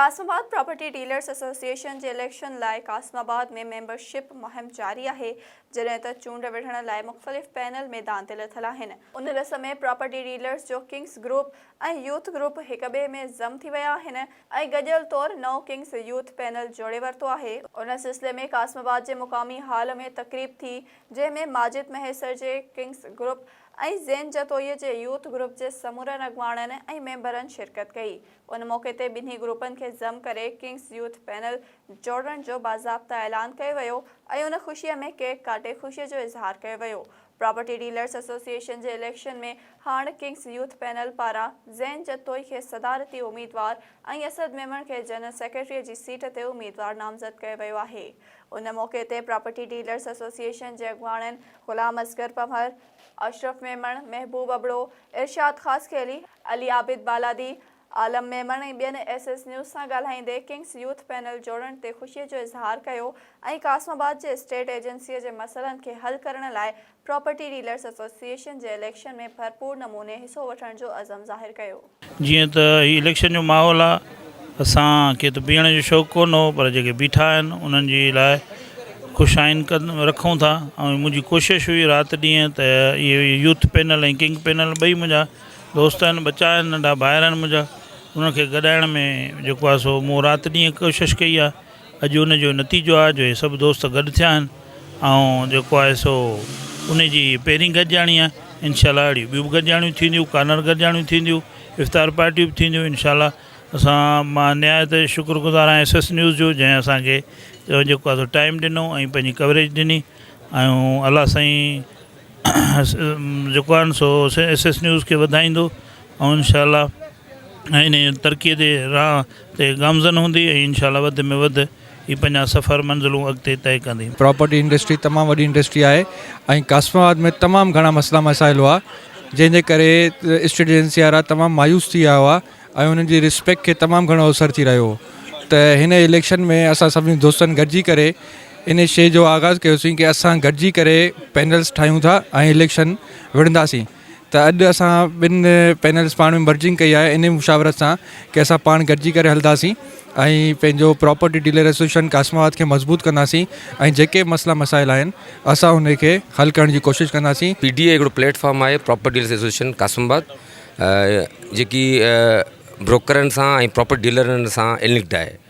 قاسم آباد property dealers association جي election لاء قاسم آباد ۾ ميمبر شپ مهم جاري آهي جڏهن ته چونڊ وڙهڻ لاء مختلف پينل ميدان تي لٿل آهن. ان رس ۾ پراپرٽي ڊيلرز جو ڪنگز گروپ ۽ يوٿ گروپ هڪ ٻئي ۾ ضم ٿي ويا آهن ۽ گڏيل طور نئون ڪنگز يوٿ پينل جوڙي ورتو آهي. ان سلسلي ۾ قاسم آباد جي مقامي هال ۾ تقريب ٿي جنهن ۾ ماجد مهيسر جي ڪنگز گروپ ۽ زين جتوئي جي يوٿ گروپ جي سمورن اڳواڻن ۽ ميمبرن شرڪت ڪئي. ان موقعي تي ٻنهي گروپن کي ضم ڪري ڪنگز يوٿ پينل جوڙڻ جو باضابطه اعلان ڪيو ويو ۽ ان خوشي ۾ ڪيڪ ڪاٽي خوشي جو اظهار ڪيو ويو. پراپرٽي ڊيلرز ايسوسيئيشن جي اليڪشن ۾ هاڻ ڪنگز يوٿ پينل پاران زين جتوئي کي صدارتي اميدوار ۽ اسد ميمڻ کي جنرل سيڪريٽريء جي سيٽ تي اميدوار نامزد ڪيو ويو آهي. ان موقعي تي پراپرٽي ڊيلرز ايسوسيئيشن جي اڳواڻن غلام اصغر پنهور، اشرف ميمڻ، محبوب ابڙو، ارشاد خاصخيلي، علي عابد بالادي، عالم ميمڻ ۽ ٻين ايس ايس نيوز سان ڳالهائيندي ڪنگز يوٿ پينل جوڙڻ تي خوشي جو اظهار ڪيو ۽ قاسم آباد جي اسٽيٽ ايجنسيء جي مسئلن کي حل ڪرڻ لاء پراپرٽي ڊيلرز ايسوسيئيشن جي اليڪشن ۾ ڀرپور نموني حصو وٺڻ جو عزم ظاهر ڪيو. جيئن ته هي اليڪشن جو ماحول آ اسان کي ته بيهڻ جو شوق ڪون هو پر جيڪي بيٺا آهن انهن جي لاء خوش آئين رکون ٿا ۽ منهنجي ڪوشش هئي رات ڏينهن ته اهي يوٿ پينل ۽ ڪنگ پينل ٻئي منهنجا دوست آهن ٻچا آهن ننڍا ڀائر آهن منهنجا انهن کي گڏائڻ ۾ جيڪو آ سو مون رات ڏينهن ڪوشش ڪئي آ اڄ ان جو نتيجو آهي جو هي سڀ دوست گڏ ٿيا آهن ۽ جيڪو آهي سو انهي جي هي پهرين گڏجاڻي آهي انشاء الله اهڙيون ٻيون به گڏجاڻيون ٿينديون ڪانئر گڏجاڻيون ٿينديون افطار پارٽيون به ٿينديون انشاء الله اسان مان نهايت شڪر گذار آهيان ايس ايس نيوز جو جنهن اسانکي جيڪو آهي سو ٽائيم ڏنو ۽ پنهنجي ڪوريج ڏني ۽ الله سائين جيڪو آهن سو ايس ايس نيوز کي وڌائيندو ۽ انشاء الله ۽ انهيء ترقيء جي راهه تي گامزن هوندي ۽ انشاء الله وڌ ۾ وڌ ئي پنهنجا سفر منزلون اڳتي طئي ڪندي. پراپرٽي انڊسٽري تمام وڏي انڊسٽري آهي ۽ قاسم آباد ۾ تمام گهڻا مسئلا مسائل هئا جنهن جي ڪري اسٽيٽ ايجنسي وارا تمام مايوس ٿي ويا هئا ۽ انهن جي رسپيڪٽ کي تمام گهڻو اوسر ٿي رهيو هو ته هن اليڪشن ۾ اسان سڀني دوستن گڏجي ڪري انهي شئي جو آغاز ڪيوسين ڪي اسان گڏجي ڪري پينلز ٺاهيون ٿا ۽ اليڪشن وڙهنداسين ته اڄ اسان ٻن پينلز پاڻ ۾ مرجنگ ڪئي آهي انهي مشاورت سان ڪي اسان پاڻ گڏجي ڪري هلنداسين ۽ پنهنجو property dealer association Qasimabad کي مضبوط ڪنداسين ۽ جيڪي مسئلا مسائل آهن اسان انهي کي حل ڪرڻ جي ڪوشش ڪنداسين. پي ڊي اي هڪڙو پليٽ فارم آهي property dealers association Qasimabad جيڪي بروڪرن سان ۽ پراپرٽي ڊيلرن سان النڪڊ آهي.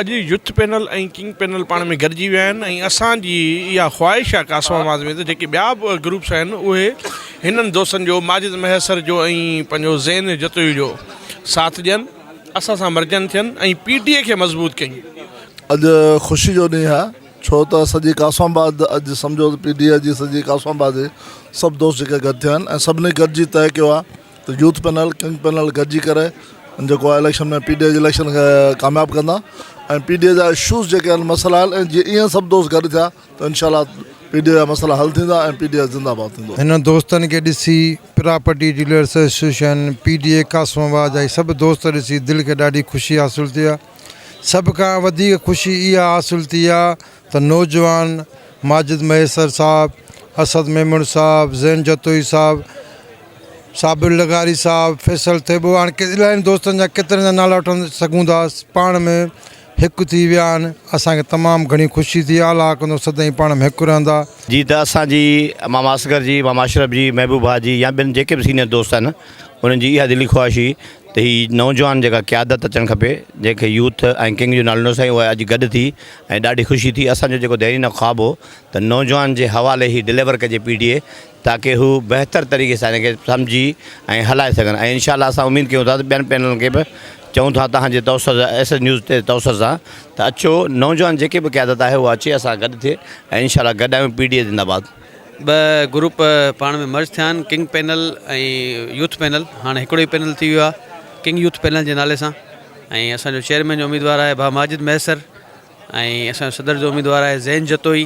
اڄ يوٿ پينل ۽ ڪنگ پينل پاڻ ۾ گڏجي ويا آهن ۽ اسان جي اها خواهش آهي ڪاسم آواز ۾ ته جيڪي ٻيا به گروپس آهن اهي هنن دوستن جو ماجد مهيسر جو ۽ پنهنجو زين جتوئي جو ساٿ ڏين اسان سان مرجان ٿين ۽ پي ٽي اي کي مضبوط ڪيون. اڄ خوشي جو ڏينهن آهي ڇو ته سڄي ڪاسم آباد اڄ سمجهو ته پي ٽي اي جي سڄي ڪاسم آباد جي سڀ دوست جيڪي گڏ ٿيا آهن ۽ سڀني گڏجي طئي ڪيو آهي ته يوٿ پينل ڪنگ پينل گڏجي ڪري جيڪو آهي اليڪشن ۾ پي ڊي اي جي اليڪشن کي ڪامياب ڪندا ۽ پي ڊي اي جا اشوز جيڪي آهن مسئلا آهن ۽ جي ايئن سڀ دوست گڏ ٿيا ته انشاء الله پي ڊي اي جا مسئلا حل ٿيندا ۽ پي ڊي اي زنده باد ٿيندو. هنن دوستن کي ڏسي property dealers association, P D A Qasimabad جا هي سڀ دوست ڏسي دل کي ڏاڍي خوشي حاصل ٿي آهي. سڀ کان وڌيڪ خوشي اها حاصل ٿي آهي ته نوجوان ماجد مهيسر صاحب، اسد ميمڻ صاحب، زين جتوئي صاحب، صابر لغاري صاحب، فيصل ٿيٻو هاڻ الائين دوستن جا ڪيترن جا نالا وٺڻ سگهون ٿا پاڻ ۾ هڪ ٿي ويا آهن اسان کي تمام گهڻي خوشي ٿي اعليٰ حقندو سدائين پاڻ ۾ هڪ رهندا. جي ته اسان جي ماما اصغر جي، ماما اشرف جي، محبوب ڀاء جي يا ٻين جيڪي به سينئر دوست آهن انهن جي اها دلي خواهش هئي ته هي نوجوان جيڪا قيادت اچڻ کپي جنهن کي يوٿ ۽ ڪنگ جو نالو نه سائين اها اڄ گڏ ٿي ۽ ڏاڍي خوشي ٿي اسان جو جيڪو ديرينه خواب هو ته نوجوان جي حوالي هي ڊليور ڪجي پي ٽي اي تاڪه هو بهتر طريقي سان هن کي سمجهي ۽ هلائي سگهن ۽ انشاء الله اسان اميد ڪيون ٿا ته ٻين پينلن کي به چئون ٿا تهان جي توسر سان ايس ايس نيوز تي توسر سان ته اچو نوجوان جيڪي به قيادت آهي اها اچي اسان گڏ ٿئي ۽ انشاء الله گڏ آهيون پي ٽي اي زنده باد. ٻه گروپ پاڻ ۾ مرج ٿيا آهن ڪنگ پينل ۽ يوٿ پينل هاڻي هڪڙو ئي پينل ٿي ويو آهي ڪنگ يوٿ پينل جي نالي سان ۽ اسان جو چيئرمين جو اميدوار آهي ڀا ماجد مهيسر ۽ اسان جو صدر جو اميدوار آهي زين جتوئي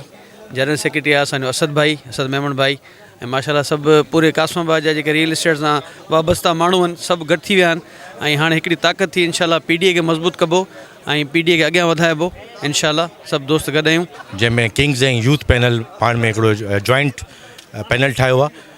جنرل سيڪريٽري آهي اسان جو اسد ڀائي اسد ميمڻ ڀائي ۽ ماشاءالله سڀ پوري قاسم آباد جا جيڪي ريئل اسٽيٽ سان وابسته ماڻهو آهن سڀ گڏ ٿي ويا آهن ۽ هاڻي هڪڙي طاقت ٿي انشاءالله پي ڊي اي کي مضبوط ڪبو ۽ پي ڊي اي کي اڳيان وڌائبو انشاءالله سڀ دوست گڏ آهيون جنهن ۾ ڪنگز ۽ يوٿ پينل پاڻ ۾ هڪڙو جوائنٽ پينل ٺاهيو آهي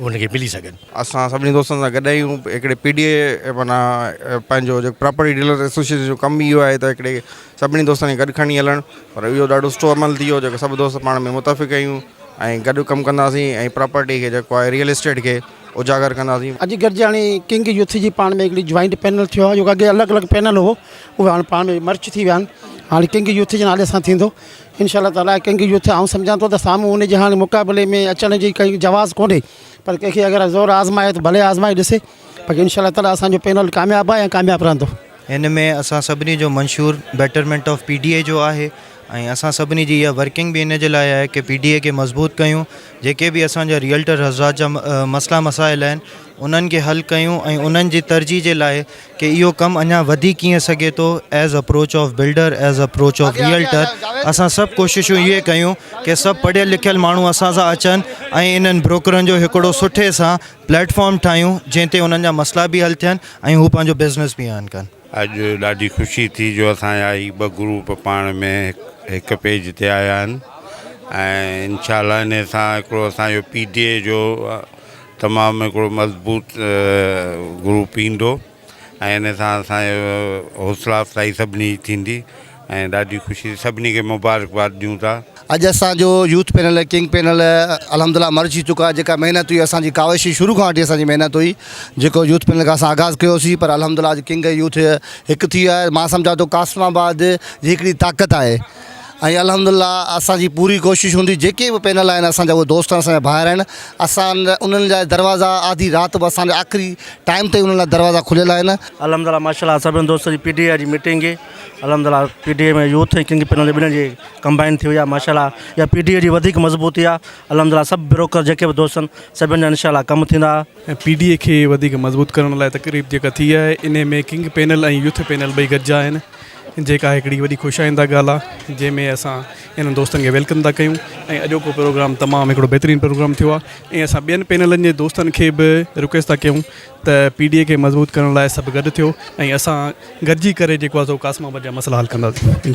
انهن کي ملي سگهن. اسان سڀني دوستن سان گڏ آهيون هڪڙي پي ڊي اي معنيٰ پنهنجو جيڪو پراپرٽي ڊيلر ايسوسيئيشن جو ڪم اهو آهي ته هڪڙي سڀني دوستن کي گڏ کڻي هلڻ پر اهو ڏاڍو سٺو عمل ٿي ويو جيڪو سڀ دوست پاڻ ۾ متفق آهيون ۽ گڏ ڪم ڪنداسين ۽ پراپرٽي کي جيڪو آهي ريئل اسٽيٽ کي اجاگر ڪنداسين. اڄ گڏجي هاڻي ڪنگ يوٿ جي پاڻ ۾ هڪڙي جوائنٽ پينل ٿيو آهي جيڪو اڳي الڳ الڳ پينل هو اهو هاڻي پاڻ ۾ مرج ٿي ويا آهن هاڻي ڪنگ يوٿ جي نالي سان ٿيندو. انشاء الله تعالٰي ڪنگ يوٿ آئون سمجهان ٿو ته سامهون ان جي هاڻي مقابلي ۾ اچڻ جي ڪائي جواز ڪونهي پر ڪنهن کي اگر زور آزمائي ته ڀلي آزمائي ڏسي باقي انشاء الله تعالٰي اسان جو پينل ڪامياب آهي ۽ ڪامياب رهندو. هن ۾ اسان سڀني جو منشور betterment of P D A جو آهي ۽ اسان سڀني جي اها ورڪنگ به ان جي لاء آهي ڪي پي ڊي اي کي مضبوط ڪيون جيڪي به اسان جا ريئلٽر حضرات جا مسئلا مسائل آهن انهن کي حل ڪيون ۽ انهن جي ترجيح جي لاء ڪي اهو ڪم اڃا وڌي ڪيئن سگهي ٿو as approach of builder as approach of realtor اسان سڀ ڪوششون اهي ڪيون ڪي سڀ پڙهيل لکيل ماڻهو اسان سان اچن ۽ انهن بروڪرن جو هڪڙو سٺي سان پليٽ فارم ٺاهيون جنهن تي انهن جا مسئلا به حل ٿين ۽ هو پنهنجو بزنس به ارن ڪن. اڄ ڏاڍي خوشي ٿي جو اسان جا هي ٻه گروپ پاڻ ۾ هڪ پيج تي آيا آهن ۽ انشاء الله انهي سان هڪڙو اسان جو پي ٽي اي جو تمام هڪڙو مضبوط گروپ ايندو ۽ ان سان اسان جو حوصلا افزائي سڀني جي ٿيندي ۽ ڏاڍي خوشي سڀني کي مبارڪباد ڏيون ٿا. اڄ اسان جو يوٿ پينل ڪنگ پينل الحمد الله مرج ٿي چڪو آهي جيڪا محنت هئي اسان جي ڪاوش جي شروع کان وٺي اسان جي محنت هئي جيڪو يوٿ پينل کان اسان آغاز ڪيو سين پر الحمد الله اڄ ڪنگ يوٿ هڪ ٿي ويو آهي مان سمجهان ٿو قاسم آباد جي هڪڙي طاقت آهي ۽ الحمد الله اسان جي پوري ڪوشش هوندي جيڪي به پينل آهن اسان جا اهي دوست اسان جا ڀائر آهن اسان انهن جا دروازا آڌي رات به اسان جا آخري ٽائيم تائين انهن لاء دروازا کليل آهن. الحمد الله ماشاء الله سڀني دوستن جي پي ٽي اي جي ميٽنگ هئي الحمد الله P T A ۾ youth ۽ king panel ٻنهي جي ڪمبائن ٿي وئي آهي ماشاء الله اها پي ٽي اي جي وڌيڪ مضبوطي آهي الحمد الله سڀ بروڪر جيڪي به دوست آهن سڀني جا انشاء الله ڪم ٿيندا پي ڊي اي کي وڌيڪ مضبوط ڪرڻ لاء تقريب جيڪا ٿي آهي انهي ۾ ڪنگ پينل ۽ يوٿ پينل ٻئي گڏجا آهن جيڪا هڪڙي وڏي خوش آئنده ڳالهه آهي جنهن ۾ اسان انهن دوستن کي ويلڪم ٿا ڪيون ۽ اڄوڪو پروگرام تمام هڪڙو بهترين پروگرام ٿيو آهي ۽ اسان ٻين پينلن جي دوستن کي به رڪويسٽ ٿا ڪيون ته پي ڊي اي کي مضبوط ڪرڻ لاء سڀ گڏ ٿيو ۽ اسان گڏجي ڪري جيڪو آهي سو قاسم آباد جا مسئلا حل ڪنداسين